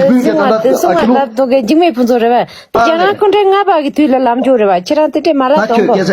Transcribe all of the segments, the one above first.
སྲིང་བ་དེ་སྲིང་བ་ལ་དོ་གལ་འཇིགས་མེད་ཕུན་ཚོགས་རེད་བ་དེ་རྒྱ་ནག་ཀུན་ཁྲན་ལྔ་པ་གི་དུས་ལ་ལམ་འགྱུར་རེད་བ་ཁྱེད་རང་དེ་འདྲའི་མ་ལ་དོགས་གོ། ཁྱེད་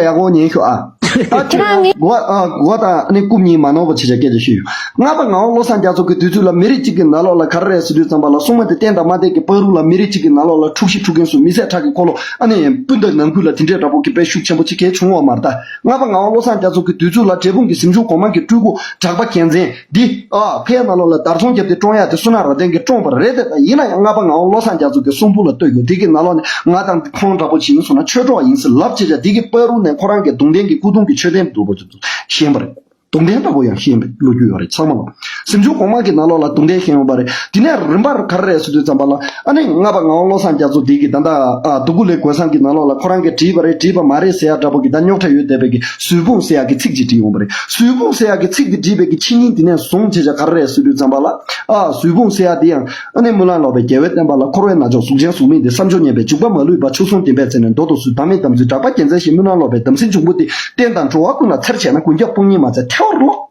རང་ངའི། གོ་བ་གོ་བ་དང་ནི་རྐུབ་གཉིས་མ་ནོར་བ་ཆེ་ཆ་སྐད་ཆ་ཤོད་ཡོད། ལྔ་པ་ངའོ་བློ་བཟང་རྒྱ་མཚོ་གི་དུས་ཚོད་ལ་མི་རིགས་གཅིག་གི་ནག་ལོག་ལ་ག་རེ་རེད་ཟེར་དུས་ཙམ་པ་ལ་སྲུང་མ་དེ་བསྟན་དང་མ་བསྟན་གི་པགས་རུ་ལ་མི་རིགས་གཅིག་གི་ནག་ལོག་ལ་འཁྲུག་ཤི་འཁྲུག་མཁན་སུ་མི་བཟད་ཁྲག་གི་འཁོར་ལོ་ཨ་ནི་སྤུན་ཟླ་ནང་ཁུལ་ལ་དེ་འདྲའི་འདྲ་པོ་གི་དཔེ་ཤུགས་ཆེན་པོ་ཅི་གལ་བྱུང་བ་མ་རྟ། ལྔ་པ་ངའོ་བློ་བཟང་རྒྱ་མཚོ་གི་དུས་ཚོད་ལ་འབྲས་སྤུངས་གི་གཟིམ་ཆུང་གོང་མ་གི་སྤྲུལ་སྐུ་གྲགས་པ་རྒྱལ་མཚན། འདི། ཕའི་རྣ་ལོག་ལ་དར་ཚོང་བརྒྱབ་སྟེ་བཀྲོངས་ཡག་དེ་སུ་ནག་རྭ་སྟེང་གི་བཀྲོངས་པར་རེད་དེ། ཡིན་ན་ཡང་རྔ་པ་ངའོ་བློ་བཟང་རྒྱ་མཚོ་དེ་གསུང་ཕུག་ལ་བསྟོད་དགོས་འདི་གི་རྣ་ལོག་ནས་ང་དང་ཁོང་འདྲ་པོ་ཇི་ཡིན་སོང་ན་ཆོས་གྲོགས་ཡིན་ཟེར་ལབ་ཅེས་བྱ་འདི་གི་པར་རུ་ནས་ཁོ་རང་གི་དུང་ལྡན་གྱི་སྐུ་གདུང་གི་མཆོད་རྟེན་འདུག་པ་ཚོ་ཤེས་པ་རེད། དུང་ལྡན་འདྲ་པོ་ཡང་ཤེས་པའི་ལོ་རྒྱུས་ཡོད་རེད་ཚང་མ་ལོག་སེམས་ཅུང་གོང་མ་གི་རྣ་ལོག་ལ་དུང་ལྡན་ཤེས་ཡོང་པ་རེད་དེ་ནས་རིམ་པར་གར་རེ་སོ་དུས་ཙམ་པ་ལ་ཨ་ནི་རྔ་པ་ངའོ་བློ་བཟང་རྒྱ་མཚོ་འདི་གི་ད་ད་སྡུག་གུ་ལེགས་དགོས་བསམ་གི་རྣ་ལོག་ལ་ཁོ་རང་གི་བྲིས་པ་རེད་བྲིས་པ་མ་རེད་ཟེར་ཡག་འདྲ་པོ་གི་ད་རྙོག་ཁྲ་ཡོད་བསྡད་པའི་གི་སུའི་སྤུངས་སེ་ཡག་གི་ཚིག་ཅིག་བྲིས་འོངས་པ་རེད། སུའི་སྤུངས་སེ་ཡག་གི་ཚིག་འདི་བྲིས་པའི་ཀྱི་ཕྱི་ཉིན་དེ་ནས་བཟུང་བྱས་བྱ་ག་རེ་རེད་སུས་བྲིས་བརྩམས་པ་ལ། ཨ། སུའི་སྤུངས་སེ་ཡག་འདི་ཡང། ཨ་ནེ་སྨོན་ལམ་ལོག་པའི་རྒྱལ་བའི་བསྟན་པ་ལ་འཁོར་བའི་ན་ཅོག་གཟུགས་ཅན་གཟུགས་མེད་འདི་བསམ་སྦྱོར་ཉེས་པའི་འཇུག་པ་མ་ལུས་པ་ཆུ་ཟུང་ལྡན་པའི་རྩེ་ནས་མདོ་སྡོ་སུའི་བདག་མེད་དམ་ཚུལ་བསྒྲགས་པ་རྒྱལ་མཚན་ཞིག་སྨོན་ལམ་ལོག་པའི་དམ་སྲི་འབྱུང་པོ་འདི་བསྟན་དང་འགྲོ་བ་ཀུན་ལ་འཚེར་བྱས་ན་དགུན་སྐྱབས་སྤུངས་ཉིན་མ་ཚེ་ཐལ་བར་རློག།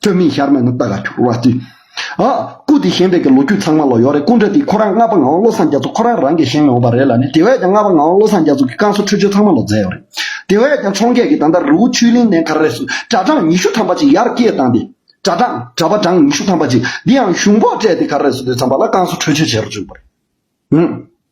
སྤྲོས་མེད་ཤར་མེད་ནི་བདག་ལ་འཁྱོར་བ་ཅི། སྐུ་དེ་བཞེངས་པའི་ལོ་རྒྱུས་ཚང་མ་ལ་ཡོད་རེད་སྐུ་འདྲ་དེ་ཁོ་རང་ལྔ་པ་ངག་དབང་བློ་བཟང་རྒྱ་མཚོ་ཁོ་རང་རང་གིས་བཞེངས་མི་འོང་པ་རེད་ལ་ནི་དེ་བས་ཀྱང་ལྔ་པ་ངག་དབང་བློ་བཟང་རྒྱ་མཚོ་གི་བསྐང་གསོ་ཁྲུས་ཆོས་ཚང་མ་ལ་མཛད་ཡོད་རེད། དེ་བས་ཀྱང་འཕྱོངས་རྒྱས་ཀྱིས་ད་ལྟ་རི་བོ་ཆུའི་གླིང་ནས་གར་རེས་སུ་གྲྭ་གྲངས་ཉི་ཤུ་ཐམ་པ་ཅིག་ཡར་སྐྱེལ་བཏང་སྟེ། གྲྭ་གྲངས། གྲྭ་པ་གྲངས་ཉི་ཤུ་ཐམ་པ་ཅིག་འདི་ཡང་གཞུང་ཕོགས་སྤྲད་དེ་གར་རེས་སུ་སྡོད་མཚམས་པ་ལ་བསྐང་གསོ་ཁྲུས་ཆོས་བྱེད་རུ་བཅུག་པ་རེད།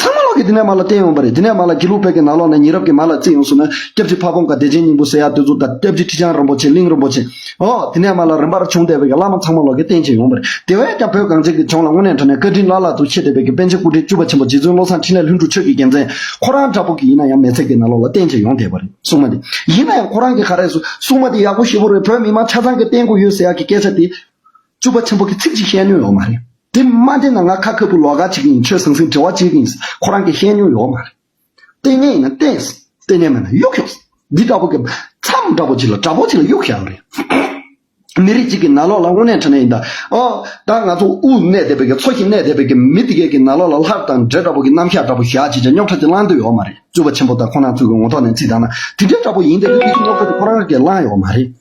ཚང་མ་ལག་གི་དེ་ནས་མར་ལ་བསྟན་ཡོང་བ་རེད་དེ་ནས་མར་ལ་དགེ་ལུགས་བོད་ཀྱི་ནང་ལོགས་ནས་ཉེ་རབས་ཀྱི་མར་ལ་བརྩིས་ཡོང་ཟུག་ན་སྐྱབས་རྗེ་ཕ་བོང་ཁ་བདེ་ཆེན་སྙིང་པོ་སེ་ཡ་བསྟོད་ཚུལ་དང་སྐྱབས་རྗེ་ཁྲི་བྱང་རིན་པོ་ཆེ་གླིང་རིན་པོ་ཆེ་འོ་དེ་ནས་མར་ལ་རིམ་པར་བྱུང་དེ་བོད་ཀྱི་བླ་མ་ཚང་མ་ལོག་གི་བསྟན་བྱས་ཡོང་བ་རེད་དེ་བས་ཀྱང་བོད་གངས་ཅན་གྱི་ལྗོངས་ལ་དངོས་གནས་འཕྲོ་ནས་བཀའ་དྲིན་བླ་ལྷག་ཏུ་ཆེ་དེ་བོད་ཀྱི་པཎ་ཆེན་སྐུ་ཕྲེང་བཅུ་པ་ཆེན་པོ་རྗེ་བཙུན་བློ་བཟང་འཕྲིན་ལས་ལྷུན་གྲུབ་ཆོས་ཀྱི་རྒྱལ་མཚན་ཁོ་རང་འདྲ་པོ་གི་ཡིན་ན་ཡང་མེས་ཚིག་གི་ནང་ལོགས་ལ་བསྟན་བྱས་ཡོང་དེ་བ་རེད་སྲུང་མ་དེ་ཡིན་ན་ཡང་ཁོ་རང་གི་ག་རེ་སྲུང་མ་དེ་ཡག་པོ་ཞེ་པོ་རེད་བོད་མི་མང་ཆ་ཚང་གི་བསྟན་དགོས་ཡོད་ཟེ་ཡ་གི་སྐད་ཆ་དེ། བཅུ་པ་ཆེན་པོ་གི་ཚིག་གཅིག་བཤད་ནུས་ཡོད་མ་རེད་དེ་མ་བདེན་ན་ང་ཁ་ཁ་བུ་ལོག་ག་ཅིག་ཡིན་ཆོས་ཟང་ཟིང་འབྲེལ་བ་ཅིག་ཡིན་ཁོ་རང་གི་བཤད་ནུས་ཡོད་མ་རེད་ལྟས་ངན་ཡིན་ན་ལྟས་ལྟས་ངན་མེད་ན་གཡུག་གཡུག་འདི་འདྲ་བོ་གི་མཚམས་འདྲ་བོ་ཅིག་ལ་དྲ་འབོ་ཅིག་ལ་གཡུག་བཞག་རེད་མི་རིགས་ཅིག་གི་ན་ལོག་ལ་དངོས་གནས་འཕྲད་ན་ཡིན་ད་ཨོ་ད་ང་ཚོ་དབུ་གནས་སྡེ་བའི་གི་ཚོ་ཞིག་གནས་སྡེ་བའི་གི་མི་དེ་གའི་གི་ན་ལོག་ལ་ལྷར་དང་འདྲེ་འདྲ་བོ་གི་རྣམ་གཞག་འདྲ་བོ་བཞག་ཅིག་ཅིག་རྙོག་ཁྲ་ཅིག་བསླང་འདོད་ཡོད་མ་རེད་བཅུ་པ་ཆེན་པོ་ད་ཁོ་རང་ཚོའི་གི་ངོ་ཐོག་ནས་ཚིག་བཏང་ན་དེ་འདྲ་འདྲ་བོ་ཡིན་ཏེ་རེད་དེ་གི་རྙོག་ཁྲ་ཅིག་ཁོ་རང་གི་གི་བསླང་ཡོད་མ་རེད།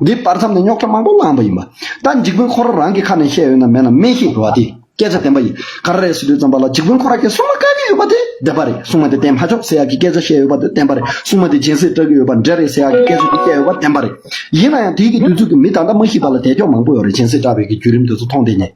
འདི་སྤར་མཚམས་ནས་རྙོག་ཁྲ་མང་པོ་བསླངས་པ་ཡིན་པ། ད་འཇིགས་དཔོན་ཁོ་ར་རང་གི་ཁ་ནས་བཤད་ཡོད་ན་མེད་ན་སྨྲས་ཤིག་འགྲོ་བ་དེས་སྐད་ཆ་བདེན་པ་ཡིན་ག་རེ་རེད་ཟེར་དུས་ཙམ་པ་ལ་འཇིགས་དཔོན་ཁོ་ར་ཁྱེད་སྲུང་མ་བཀག་གི་ཡོད་པ་དེ་བདེན་པ་རེད་སྲུང་མ་དེ་བསྟན་མ་ཆོག་ཟེར་ཡག་གི་སྐད་ཆ་བཤད་ཡོད་པ་དེ་བདེན་པ་རེད་སྲུང་མ་དེ་སྦྱིན་སྲེག་སྤྲད་གི་ཡོད་པ་འདྲེ་རེད་ཟེར་ཡག་གི་སྐད་ཆ་དེ་བཤད་ཡོད་པ་བདེན་པ་རེད། ཡིན་ན་ཡང་དུས་ཀྱི་བསྡུས་ཚུལ་གྱིས་མི་ད་ལྟ་མ་ཤི་བ་ལ་དད་ཅོག་མང་པོ་ཡོད་རེད་སྦྱིན་སྲེག་སྤྲད་པའི་གི་བརྒྱུད་རིམ་དེ་ཚོ་མཐོང་བསྡད་ཉེ།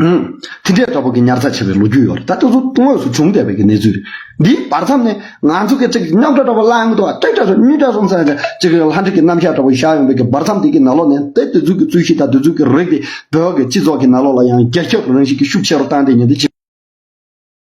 དེ་འདྲའི་དོ་ཕོག་གི་ཉར་ཚགས་བྱས་པའི་ལོ་རྒྱུས་ཡོད་ད་ལྟ་སུ་དངོས་སུ་བྱུང་བསྡད་པའི་གནས་ཚུལ་རེད་འདིའི་བར་མཚམས་ནས་ང་ཚོ་གི་ཚིག་གི་རྙོག་དྲ་འདྲ་པོ་གླང་དུ་སྟོད་དྲ་སོང་སྨྱུག་དྲ་སོང་ཟེར་ཅིག་ལྷ་འདྲེ་ཀྱི་རྣམ་གཞག་འདྲ་པོ་བཞག་ཡོང་བའི་གི་བར་མཚམས་དེ་གི་ནང་ལོགས་ནས་དེ་དུས་ཚོད་ཀྱི་རྩོད་གཞི་དང་དུས་ཚོད་ཀྱི་རིགས་དེ་བོད་ཀྱི་སྤྱི་ཚོགས་ཀྱི་ནང་ལོགས་ལ་ཡང་རྒྱ་ཁྱབ་རང་བཞིན་གྱི་ཤུགས་ཆེ་རུ་བཏང་སྟེ་ཉེ་དུས་ཕྱི།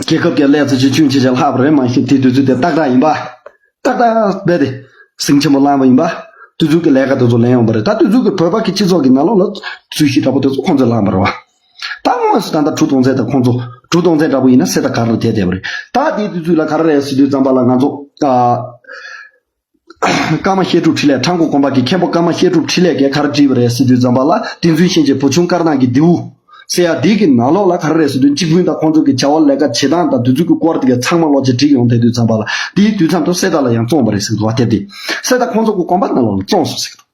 རྒྱལ་ཁབ་ཀྱི་ཀླད་རྩི་ཆུ་ཆུན་ཆེ་ཆེ་ལྷག་པ་རེད་མ་ཤེས་དེའི་དུས་ཚོད་དེ་ཏག་ཏག་ཡིན་པ། ཏག་ཏག་རྦད་དེ་ཟིང་ཆེན་པོ་བསླངས་པ་ཡིན་པ། དུས་ཚོད་ཀྱི་ལས་ཀ་དེ་ཚོ་ལེན་ཡོང་པ་རེད་ད་དུས་ཚོད་ཀྱི་བོད་པ་ཀྱི་སྤྱི་ཚོགས་ཀྱི་ནང་ལོགས་ལ་རྩོད་གཞི་འདྲ་པོ་དེ་ཚོ་ཁོང་ཚོས་བསླངས་པ་རེད་བ། ད་དངོས་སུ་ད་ལྟ་དྲུག་སྟོང་ཚན་དང་ཁོང་ཚོ་དྲུག་སྟོང་ཚན་འདྲ་པོ་ཡིན་ན་སེ་ད་ག་རུ་དེད་བསྡད་པ་རེད་ད་དེའི་དུས་ཚོད་ལ་ག་རེ་རེད་ཟེར་དུས་རྩམ་པ་ལ་ང་ཚོ། ཀརྨ་བཤད་སྒྲུབ་འཕྲིན་ལས་ཁྲ་མགོ་དགོན་པ་གྱི་མཁན་པོ་ཀརྨ་བཤད་སྒྲུབ་འཕྲིན་ལས་ཀྱིས་གར་བྲིས་པ་རས་སུ་དུས་འཛོམས་པ་ལ་ཏིང་འཛིན་ཤན་འབྱེད་བུ་ཆུང་དཀར་ནག་གི་རྡེའུ། སེ་ཡ་དིག་གི་ནང་ལོགས་ལ་གར་རས་སུ་དུས་གཅིག་བུན་དང་ཁོང་ཚོ་གི་བྱ་བ་ལས་ཀ་བྱེད་སྟངས་དང་དུས་ཚོད་ཀྱི་སྐོར་དག་ཚང་མ་ལོགས་ཀྱིས་བྲིས་ཡོང་ཐལ་དུས་འཛོམས་པ་ལ་དེའི་དུས་མཚམས་དུ་སེ་ད་ལ་ཡང་བཙོངས་པ་རེད་ཟེར་འདུག་བ་དེབ་དེ་སེ་ད་ཁོང་ཚོ་གི་དགོན་པ་ནང་ལོགས་ལ་བཙོངས་སོང་ཟེར་གི་འདུག།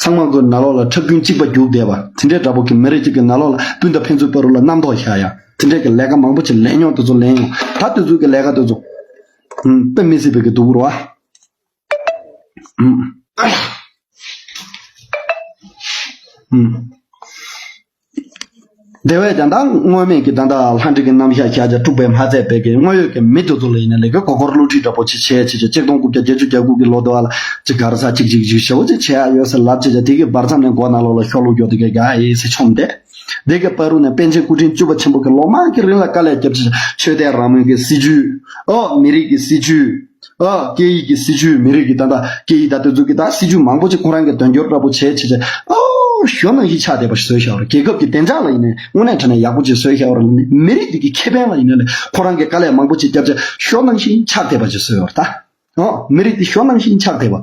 ཚང་མ་གོས་ནག་ལོག་ལ་ཁྲག་རྒྱུན་གཅིག་པ་རྒྱུགས་བསྡད་པ། དེ་འདྲའི་འདྲ་པོ་གི་མི་རེ་གཅིག་གི་ནག་ལོག་ལ་སྤུན་ཟླ་ཕན་ཚུན་བར་རུ་ལ་རྣམ་རྟོག་བཞག་ཡ། དེ་འདྲའི་གི་ལས་ཀ་མང་པོ་ཆེ་ལས་མྱོང་དེ་ཚོ་ལེན་ཡོང། ད་དེ་ཚོའི་གི་ལས་ཀ་དེ་ཚོ། དཔེ་མི་སྲིད་པའི་གི་འདུག་རོ། དེ་བས་ཀྱང་ད་སྔོན་མེད་ཀྱི་ད་ལྟ་ལྷ་འདྲེ་ཀྱི་རྣམ་གཞག་ཤཱཀྱ་དཀྲུགས་པའི་མ་བཙས་དཔལ་གྱི་དངོས་ཡོད་ཀྱི་མི་དེ་ཚོ་ལ་ཡིན་ན་ལས་ཀའི་གོ་འཁོར་བསླུ་བྲིད་འདྲ་པོ་ཆེ་བྱས་བྱས་བྱས་གཅིག་སྟོང་དགུ་བརྒྱ་བརྒྱད་ཅུ་གྱ་དགུ་གི་ལོ་ཟླ་བ་ལ་གཅིག་གར་ས་གཅིག་གཅིག་གཅིག་ཞེ་བོ་གཅིག་བྱས་ཨ་ཡོད་ཟེར་ལབ་བྱས་བྱས་དེ་གའི་བར་མཚམས་ནས་མགོ་ནག་ལོག་ལ་ཤོག་ལུག་རྒྱོག་དེ་གའི་ག་ཨེ་ཟེར་ཆོམ་སྟེ། དེ་གའི་དཔའ་རུ་ནས་པཎ་ཆེན་སྐུ་ཕྲེང་བཅུ་བ་ཆེན་པོ་གིས་ལོ་མང་གི་རིང་ལ་དཀའ་ལས་བརྒྱབ་བྱས་བྱས་ཆོས་དད་རང་མོས་ཀྱི་སྲིད་བྱུས། ཨོ། མི་རིགས་ཀྱི་སྲིད་བྱུས། སྐད་ཡིག་གི་སྲིད་བྱུས་མི་རིགས་ཀྱི་ད་ལྟ་སྐད་ཡིག་ད་གཏོད་རྩོད་ཀྱི་ད་སྲིད་བྱུས་མང་པོ་ཅིག་ཁོང་རང་གི་དོན་འཁྱོལ་འདྲ་པོ་བྱས་བྱས་བྱས། ཞོ་ནང་བཞིན་ཆགས་བསྡད་པ་ཞིག་བཟོས་ཤག་རོགས་རྒྱལ་ཁབ་ཀྱི་བདེ་འཇགས་ལ་ཡིན་ནའི་དངོས་གནས་དྲན་ནས་ཡག་པོ་ཅིག་བཟོས་ཤག་རོགས་མི་རིགས་དེ་གི་ཁེ་ཕན་ལ་ཡིན་ན་ལས་ཁོང་རང་གི་དཀའ་ལས་མང་པོ་ཅིག་བསྐྱབས་བྱས་ཞོ་ནང་བཞིན་ཆགས་བསྡད་པ་ཅིག་བཟོས་ཡོད་རེད་ད། མི་རིགས་དེ་ཞོ་ནང་བཞིན་ཆགས་བསྡད་པ།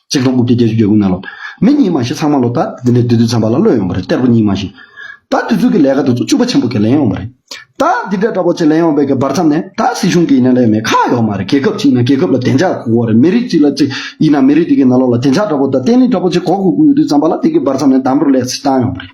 གཅིག་ལྷོ་དགུ་བརྒྱ་བརྒྱད་ཅུ་གྱ་དགུ་ན་ལོ་མི་གཉིས་མ་བཞི་ཚང་མ་ལོ་ད་འདི་འདྲའི་དུས་ཚོད་འཚམ་པ་ལ་བློས་ཡོང་པ་རེད་གཏེར་བུ་གཉིས་མ་བཞི་ད་དུས་ཚོད་ཀྱི་ལས་ཀ་དུས་ཚོད་བཅུ་པ་ཆེན་པོ་གྱི་ལེན་ཡོང་པ་རེད་ད་འདི་འདྲའི་འདྲ་པོ་ཆེ་ལེན་ཡོང་པའི་གི་བར་མཚམས་ནས་ད་སྲིད་གཞུང་གི་ཡིན་ན་ལས་མེད་ཁག་ཡོག་མ་རེད་རྒྱལ་ཁབ་ཅིག་ཡིན་ན་རྒྱལ་ཁབ་ལ་བདེ་འཇགས་གོ་གོ་རེད་མི་རིགས་གཅིག་ལ་གཅིག་ཡིན་ན་མི་རིགས་དེ་གི་ན་ལོ་ལ་བདེ་འཇགས་འདྲ་པོ་ད་བརྟན་ལྷིང་འདྲ་པོ་ཆེ་གོ་གོ་དགོས་ཡོད་དུས་མཚམས་པ་ལ་དེ་གི་བར་མཚམས་ནས་འདམ་རུ་ལས་སུ་བཏང་ཡོང་པ་རེད།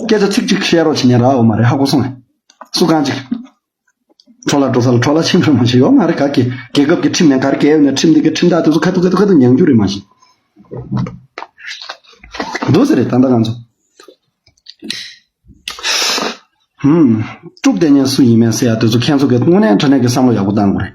སྐད་ཆ་ཚིག་གཅིག་བཤད་རོགས་བྱས་ཉན་ར་འོ་མ་རེད་ཧ་གོ་སོང་ངས། སུ་གང་ཅིག། འཕྲོ་ལ་འགྲོ་ས་ལ་འཕྲོ་ལ་ཕྱིན་ཕོད་མ་བྱས་ཡོ་ང་རེད་ག་གི་རྒྱལ་ཁབ་ཀྱི་ཁྲིམས་ནས་གར་གལ་ཡོད་ནས་ཁྲིམས་འདི་གི་ཁྲིམས་ཐག་དེ་ཚོ་ཁ་ཐུག་ཁ་ཐུག་ཁ་ཐུག་མྱང་རྒྱུ་རེད་མ་གཞི། འདུག་ཟེར་རེད་ད་ལྟ་ང་ཚོ། ཧུམ། དཀྲུགས་ལྡན་ཉན་སུ་ཡིན་མིན་ཟེར་ཡ་དེ་ཚོ་མཁན་ཚོ་གི་དངོས་གནས་འདྲ་གནས་ཀྱི་བསམ་བློ་ཡག་པོ་གཏང་དགོས་རེད།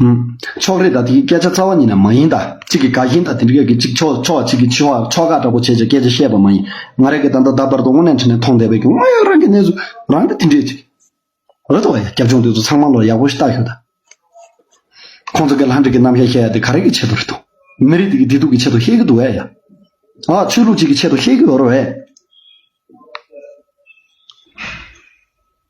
ཕྱོགས་རེས་དང་དེ་གི་སྐད་ཆ་རྩ་བ་ཉིད་ནས་མ་ཡིན་ད། གཅིག་གིས་དགའ་ཞེན་དང་དེ་འདྲ་སྐད་ཀྱི་གཅིག་ཆོག་ཆོག་གཅིག་གིས་ཆོག་ཆོག་དགའ་འདྲ་པོ་བྱེད་ཅེས་སྐད་ཆ་བཤད་པ་མ་ཡིན། ང་རང་གིས་ད་ལྟ་ད་བར་དུ་དངོས་གནས་འཕྲིན་ལས་མཐོང་བསྡད་པའི་དངོས་ཡོད་རང་གི་གནས་ཚུལ་རང་གིས་དེ་འདྲའི་ཅིག། རེད་དོ། རྒྱབ་ལྗོངས་དེ་ཚོ་ཚང་མ་ལོ་ཡག་པོ་ཞིག་བལྟ་ཞོག་ད། ཁོང་ཚོ་གི་ལྷ་འདྲེ་གི་རྣམ་གཞག་བཤད་ཡ་དེ་ག་རེ་གི་ཆེད་དུ་རེད་དོ། མི་རིགས་དེ་གི་བདེ་སྡུག་གི་ཆེད་དུ་བཤད་གི་འདུག་བས་ཡ། ཨ། ཆོས་ལུགས་གཅིག་གི་ཆེད་དུ་བཤད་གི་ཡོད་རོ་བས།